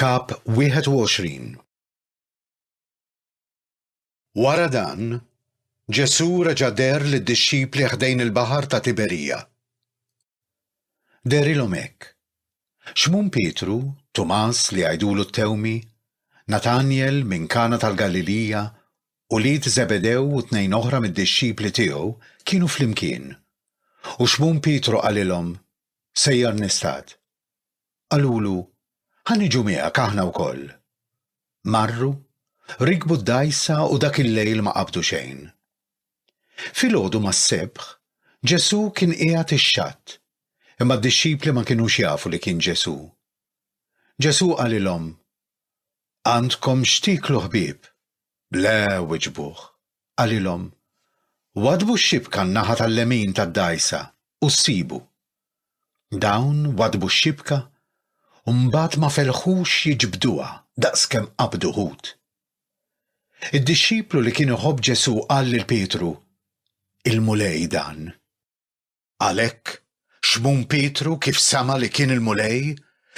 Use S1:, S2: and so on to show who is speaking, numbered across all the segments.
S1: Kap 21 Wara dan, Ġesù reġa' deher lid-dixxipli ħdejn il-baħar ta' Tiberija. Derilhom hekk. Xmun Pietru, Tumas li jgħidulu t-Tewmi, Natanjel minn Kana tal-Galilija Ulied Żebedew u tnejn oħra mid-dixxipli tiegħu kienu flimkien. U Xmun Pietru qalilhom, Sejjar nistad. Qalulu, Ħa niġu miegħek aħna wkoll. Marru, rikbu d-dgħajsa u dak il-lejl ma qabdu xejn. Filgħodu mas-sebħ, Ġesù kien qiegħed ix-xatt, imma d-dixxipli ma kinux jafu li kien Ġesù. Ġesù qalilhom, Għandkom x'tieklu ħbieb? Le, wiġbuh. Qalilhom, Waddbu x-xibka n-naħa tal-lemin tad-dgħajsa u ssibu. Dawn waddbu x-xibka u mbagħad ma felħux jiġbduha daqskemm qabdu ħut. Id-dixxiplu li kien iħobb Ġesù qal lil Pietru, Il-Mulej dan. Għalhekk, Xmun Pietru, kif sema' li kien il-Mulej,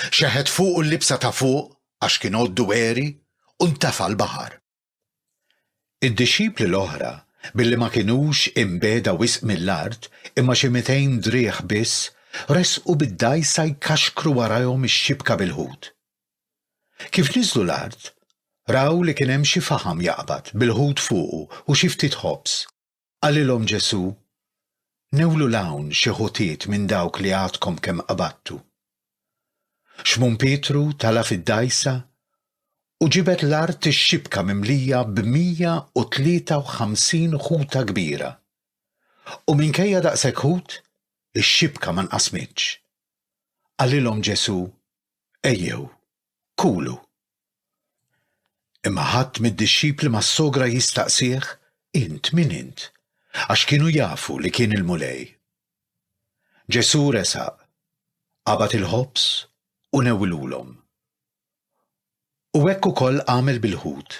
S1: xeħet fuqu l-libsa ta' fuq, għax kien għoddu għeri, u ntefa' l-baħar. Id-dixxipli l-oħra, billi ma kinux imbiegħda wisq mill-art, imma xi mitejn driegħ biss, resqu bid-dgħajsa jkaxkru warajhom ix-xibka bil-ħut. Kif niżlu l-art, raw li kien hemm xi faħam jaqbad, bil-ħut fuqu u xi ftit ħobż. Qalilhom Ġesù, Newlu 'l hawn xi ħutiet minn dawk li għadkom kemm qabadtu. Xmun Pietru tala' fid-dgħajsa u ġibed l-art ix-xibka mimlija b'mija u tlieta u ħamsin ħuta kbira, u minkejja daqshekk ħut, ix-xibka ma nqasmitx. Qalilhom Ġesù, Ejjew, Kulu. Imma ħadd mid-dixxipli ma ssogra jistaqsih, Int min int? Għax kienu jafu li kien il-Mulej. Ġesù resaq, qabad il-ħobż u newwilhulhom. U hekk ukoll għamel bil-ħut.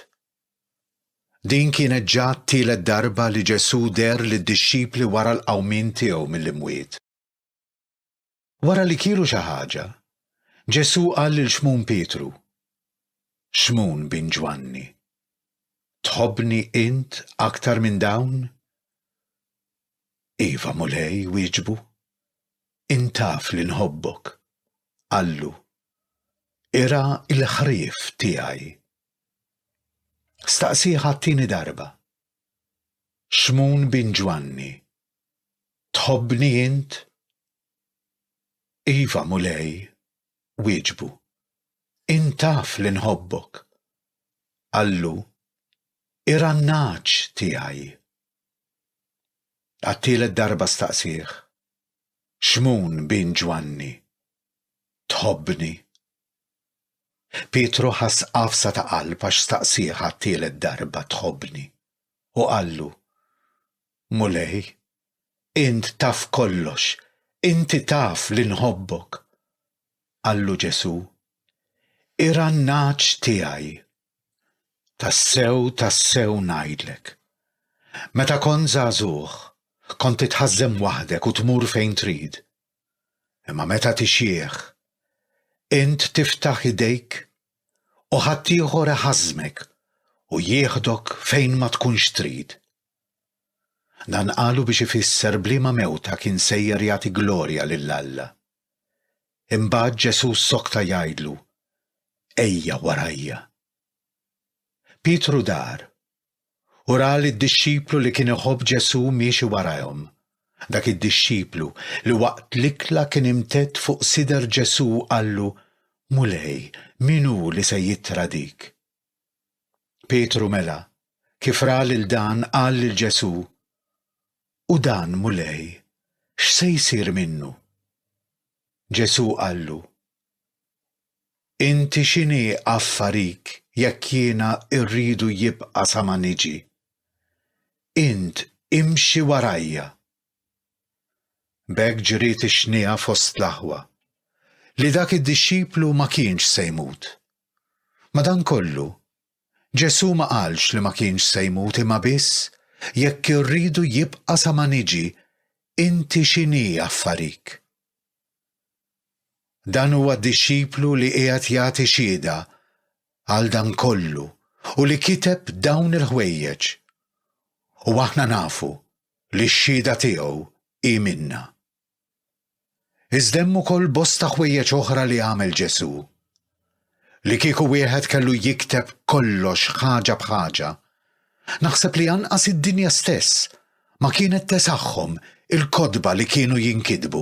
S1: Din kienet ġa t-tielet darba li Ġesù deher lid-dixxipli wara l-qawmien tiegħu mill-imwiet. Wara li kielu xi ħaġa, Ġesù qal lil Xmun Pietru, Xmun bin Ġwanni, tħobbni int aktar minn dawn? Iva, Mulej, wieġbu. Int taf li nħobbok. Qallu, Irgħa l-ħrief tiegħi. Staqsih għat-tieni darba. Xmun bin Ġwanni, Tħobbni int? Iva, Mulej, wieġbu. Int taf li nħobbok. Qallu, Irannagħaġ tiegħi. Għat-tielet darba staqsieh, Xmun bin Ġwanni, tħobbni? Pietru ħass qafsa ta' qalb għax staqsieh għat-tielet darba tħobbni u qallu, Mulej, int taf kollox, inti taf li nħobbok. Qallu Ġesù, Irannagħġ tiegħi, tassew, tassew ngħidlek, meta kont żagħżugħ, kont titħażżem waħdek u tmur fejn trid, imma meta tixjieħ, int tiftaħ idejk u ħaddieħor iħażżmek u jieħdok fejn ma tkunx trid. Dan qalu biex ifisser b'liema mewta kien sejjer jagħti glorja lil Alla. Imbagħad Ġesù ssokta jgħidlu, Ejja warajja. Pietru dar u ra li d-dixxiplu li kien iħobb Ġesù miexi warajhom. Dak id-dixxiplu li waqt l-ikla kien imtedd fuq sider Ġesù qallu, Mulej, min hu li se jittradik? Pietru mela, kif ra lil dan qal lil Ġesù, U dan, Mulej, x'se jsir minnu? Ġesù qallu, Inti x'inhi affarik jekk jiena rridu jibqa' sa ma niġi? Int imxi warajja! B'hekk ġriet ix-xniegħa fost l-aħwa, li dak id-dixxiplu ma kienx se jmut. Madankollu, Ġesù ma qalx li ma kienx se jmut imma biss jekk irridu jibqa' sa ma niġi, inti x'inhi affarik? Dan huwa dixxiplu li qiegħed jagħti xhieda għal dan kollu u li kiteb dawn il-ħwejjeġ. U aħna nafu li x-xhieda tiegħu hi minna. Iżda hemm ukoll bosta ħwejjeġ oħra li għamel Ġesù. Li kieku wieħed kellu jikteb kollox ħaġa b'ħaġa, naħseb li anqas id-dinja stess ma kienet tesaħħhom il-kotba li kienu jinkitbu.